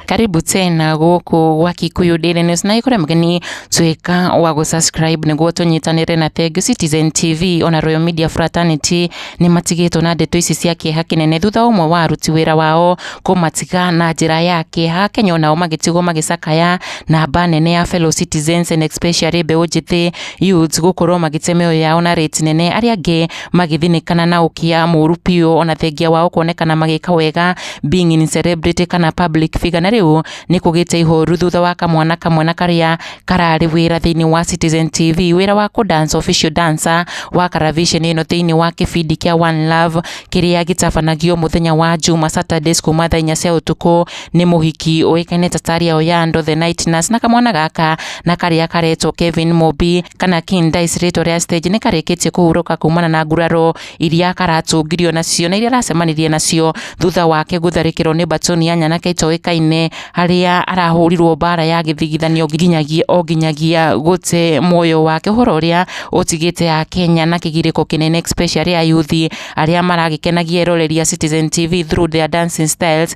karibu tena gũkũ gwa Kikuyu Daily News na ikore mgeni tuika wa gu subscribe niguo tunyitanire na Thengio Citizen TV ona Royal Media Fraternity ni matigitwo na ndeto ici cia kieha kinene thutha umwe wa aruti wira wao kumatiga na njira ya kieha Kenya onao magitigwo magicakaya na mba nene ya fellow citizens and especially mbeũ njĩthĩ Yuts gũkorwo magĩte mĩoyo yao na rĩti nene, arĩa angĩ magĩthinĩkana na ũkia mũru biũ ona thengia wao kuonekana magĩka wega being in celebrity kana public figure, na rĩu nĩ kũgĩte ihoru thutha wa kamwana kamwe na karĩa kararĩ wĩra thĩinĩ wa Citizen TV wĩra wa kũ dance official dancer wa Karavisheni ĩno thĩinĩ wa kĩbindi kĩa One Love kĩrĩa gĩtabanagio mũthenya wa Juma Saturdays kuma thaa inya cia ũtukũ nĩ mũhiki ũĩkaine ta Taria Oyando the Night Nurse na kamwana gaka na karĩa karetwo Kevin Mobi kana King Dice rĩtwa rĩa stage nĩ karĩkĩtie kũhurũka kumana na nguraro iria karatũngirio nacio na iria aracemanirie nacio thutha wake gũtharĩkĩrwo nĩ batoni ya nyanake itoĩkaine harĩa arahũrirwo mbara ya gĩthigithanio nginyagia o nginyagia gũte muoyo wake ũhoro ũrĩa ũtigĩte ya Kenya na kĩgirĩko kĩnene especially ayuthi arĩa maragĩkenagia eroreria Citizen TV through their dancing styles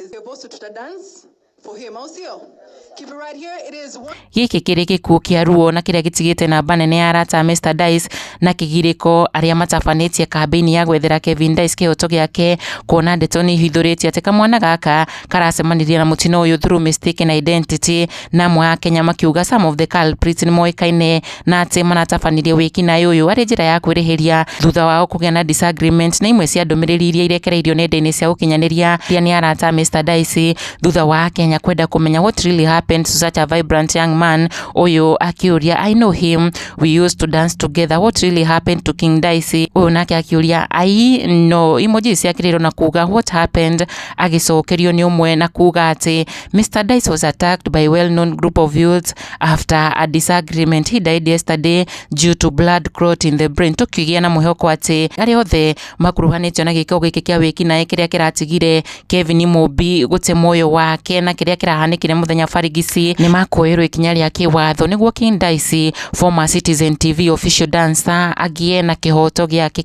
Is your voice to the dance? For him, au sio? Keep it right here. It is one. gĩkĩ kĩrĩ gĩkuũ kĩa ruo na kĩrĩa gĩtigĩte namba nene ya arata a Mr Dice na kĩgirĩko arĩa matabanĩtie kambĩini ya gwethera Kevin Dice kĩhoto gĩake kuona ndeto nĩ ihithũrĩtie atĩ kamwana gaka karacemanirie na mũtino ũyũ through mistaken identity na amwe a Kenya makiuga some of the culprits nĩ moĩkaine na atĩ maratabanirie wĩkinaĩ ũyũ arĩ njĩra ya kwĩrĩhĩria thutha wao kũgĩa na disagreement na imwe cia ndũmĩrĩri iria irekereirio nenda-inĩ cia ũkinyanĩria iria nĩ arata Mr Dicey thutha wa Akenya kwenda kũmenya what really happened to such a vibrant young man ũyũ akĩũria I know him we used to dance together what really happened to King Dicey ũyũ nake akĩũria I know emoji ciakĩrĩirwo na kuga what happened agĩcokerio nĩ ũmwe na kuga atĩ Mr Dicey was attacked by well known group of youths After a disagreement he died yesterday due to blood clot in the brain tũkĩgĩa na mwĩhoko atĩ arĩa othe makuruhanĩtio na gĩkao gĩkĩ kĩa wĩkinaĩ kĩrĩa kĩratigire Kevin Mumbi gũte muoyo wake na kĩrĩa kĩrahanĩkire mũthenya Farigisi nĩ makuoerwo ikinya rĩa kĩwatho nĩguo King Dice former Citizen TV official dancer agĩe na kĩhoto gĩake.